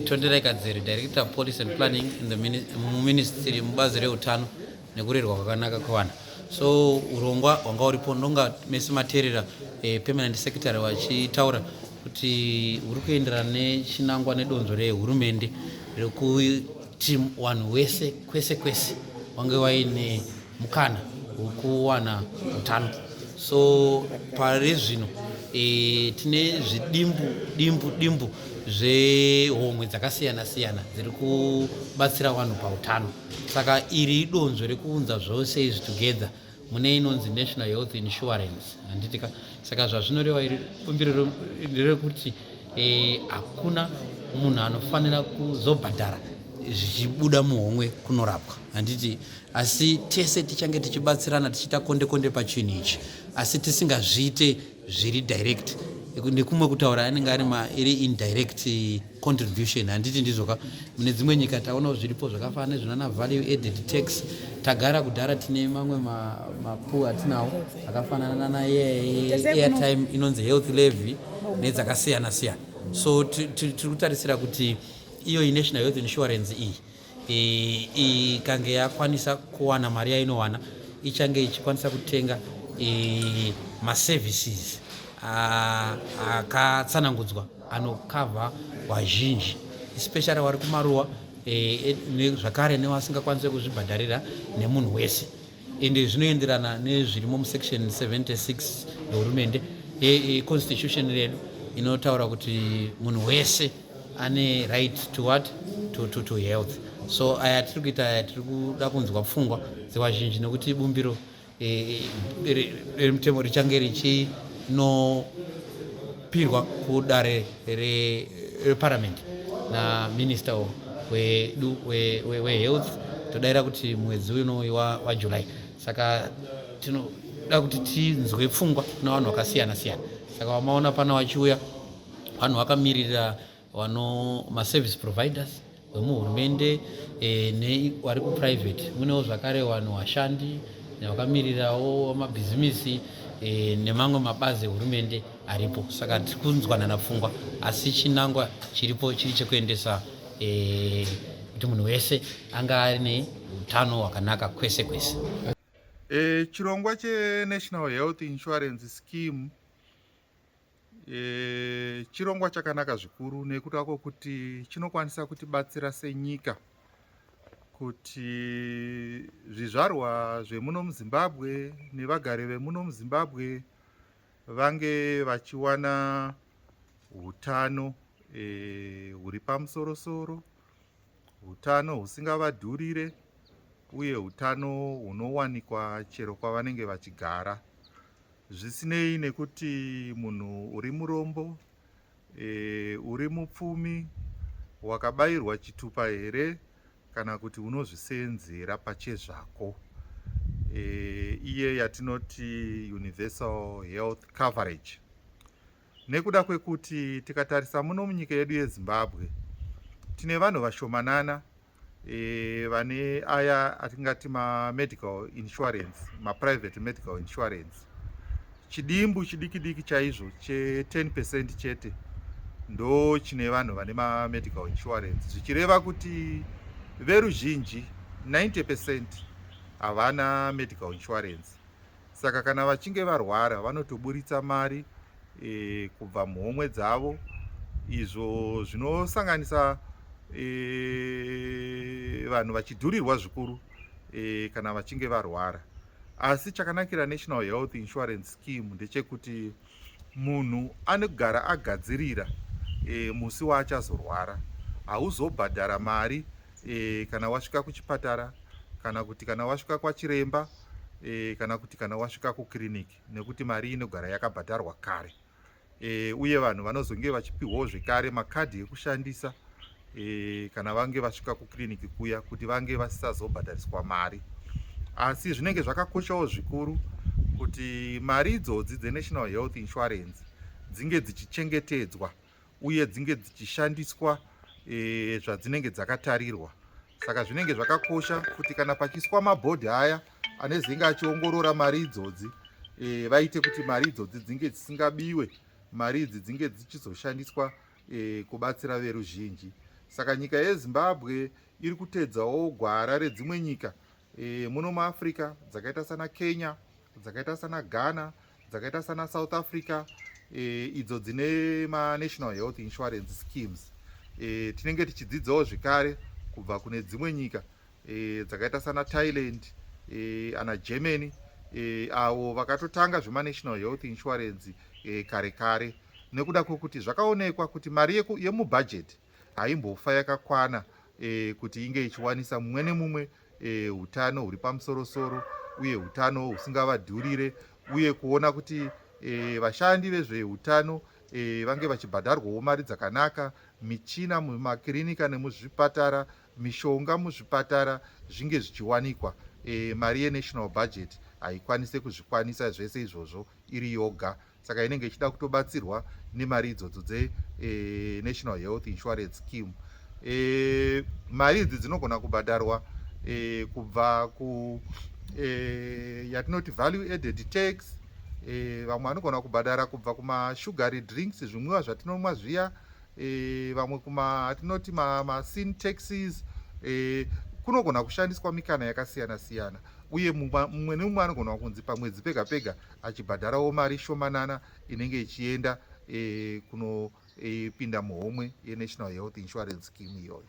Tonderai Kadzere, Director of Policy and Planning in the Ministry mubazi reutano nekurerwa kwakanaka kwevana. So urongwa hwanga uripo ndonga mese materera eh, permanent secretary vachitaura kuti huri kuenderana nechinangwa nedonzo rehurumende rekuti wanhu wese kwese kwese wange waine mukana wekuwana utano so pari zvino e, tine zvidimbu dimbu dimbu zvehomwe dzakasiyana siyana dziri kubatsira vanhu pautano saka iri idonzvo rekuunza zvose izvi together mune inonzi national health insurance handitika saka zvazvinoreva iri bumbiro rekuti e, hakuna e, munhu anofanira kuzobhadhara zvichibuda muhomwe kunorapwa handiti Asi tese tichange tichibatsirana tichiita konde konde pachinhu ichi asi tisingazviite zviri direct nekumwe kutaura anenge ari iri indirect contribution handiti ndizvoka mune dzimwe nyika taonawo zviripo zvakafanana nezvinana value added tax tagara kudhara tine mamwe mapu atinawo akafanana nana airtime inonzi health levy nedzakasiyana siyana so tiri kutarisira kuti iyo inational health insurance iyi ikange yakwanisa kuwana mari yainowana ichange ichikwanisa kutenga maservices akatsanangudzwa anokavha vazhinji especially wari kumaruwa e, e, zvakare nevasingakwanise kuzvibhadharira nemunhu wese ende zvinoenderana nezvirimo musection 76 yehurumende econstitution redu inotaura kuti munhu wese ane right to what to, to, to health so aya tiri kuita aya tiri kuda kunzwa pfungwa dzevazhinji nekuti bumbiro remutemo eh, eh, richange richino pirwa kudare reparamend naminista wedu wehealth todaira kuti mwedzi unoi wajuly saka tinoda kuti tinzwe pfungwa navanhu vakasiyana siyana saka vamaona pana vachiuya vanhu vakamiririra vano maservice providers vemuhurumende e, nevari kuprivate munewo zvakare vanhu vashandi vakamirirawo mabhizimisi e, nemamwe mabazi ehurumende aripo saka tiri kunzwanana pfungwa asi chinangwa chiripo chiri chekuendesa e, kuti munhu wese anga aine utano hwakanaka kwese kwese e, chirongwa chenational health insurance scheme E, chirongwa chakanaka zvikuru nekuda kwokuti chinokwanisa kutibatsira senyika kuti zvizvarwa zvemuno muzimbabwe nevagari vemuno muzimbabwe vange vachiwana utano e, huri e, pamusorosoro utano husingavadhurire uye utano hunowanikwa chero kwavanenge vachigara zvisinei nekuti munhu uri murombo e, uri mupfumi wakabayirwa chitupa here kana kuti unozvisenzera pachezvako e, iye yatinoti universal health coverage nekuda kwekuti tikatarisa muno munyika yedu yezimbabwe tine vanhu vashomanana e, vane aya atingati mamedical insurance maprivate medical insurance chidimbu chidiki diki chaizvo che10 percent chete ndo chine vanhu vane mamedical insurance zvichireva kuti veruzhinji 90 percent havana medical insurance saka kana vachinge varwara vanotoburitsa mari e, kubva muhomwe dzavo izvo zvinosanganisa e, vanhu vachidhurirwa zvikuru e, kana vachinge varwara asi chakanakira national health insurance scheme ndechekuti e, munhu anogara agadzirira e, musi waachazorwara hauzobhadhara mari e, kana wasvika kuchipatara kana kuti kana wasvika kwachiremba e, kana kuti kana wasvika kukiriniki nekuti mari inogara yakabhadharwa kare e, uye vanhu vanozonge vachipiwawo zvekare makadhi ekushandisa e, kana vange vasvika kukiriniki kuya kuti vange vasisazobhadhariswa mari asi zvinenge zvakakoshawo zvikuru kuti mari idzodzi dzenational health insurance dzinge dzichichengetedzwa uye dzinge dzichishandiswa e, zvadzinenge dzakatarirwa saka zvinenge zvakakosha kuti kana pachiswa mabhodhi aya anezenge achiongorora mari idzodzi e, vaite kuti mari idzodzi dzinge dzisingabiwe mari idzi dzinge dzichizoshandiswa e, kubatsira veruzhinji. Saka nyika yeZimbabwe iri kutedzawo gwara redzimwe nyika e, muno muAfrica dzakaita sana Kenya, dzakaita sana Ghana, dzakaita sana South Africa e, idzo dzine maNational Health Insurance Schemes. E, tinenge tichidzidzawo zvekare kubva kune dzimwe nyika e, dzakaita sana thailand e, ana germany e, avo vakatotanga zvemanational health insurance e, kare kare nekuda kwekuti zvakaonekwa kuti mari yemubhajeti haimbofa yakakwana e, kuti inge ichiwanisa mumwe nemumwe e, utano huri pamusorosoro uye utano husingavadhurire uye kuona kuti e, vashandi vezveutano e, vange vachibhadharwawo mari dzakanaka michina mumakirinika nemuzvipatara e, mishonga muzvipatara zvinge zvichiwanikwa e, mari yenational budget haikwanise kuzvikwanisa zvese izvozvo iri yoga saka inenge ichida kutobatsirwa nemari idzodzo dzenational eh, e, health insurance scheme e, mari idzi dzinogona kubhadharwa e, kubva ku e, yatinoti value added tax e, vamwe vanogona kubhadhara kubva kumashugary drinks zvimwiwa zvatinomwa zviya e, vamwe kuma hatinoti ma, ma sin taxis e, kunogona kushandiswa mikana yakasiyana siyana uye mumwe nemumwe anogona kunzi pamwedzi pega pega achibhadharawo mari shomanana inenge ichienda e, kunopinda e, muhomwe yenational health insurance scheme iyoyo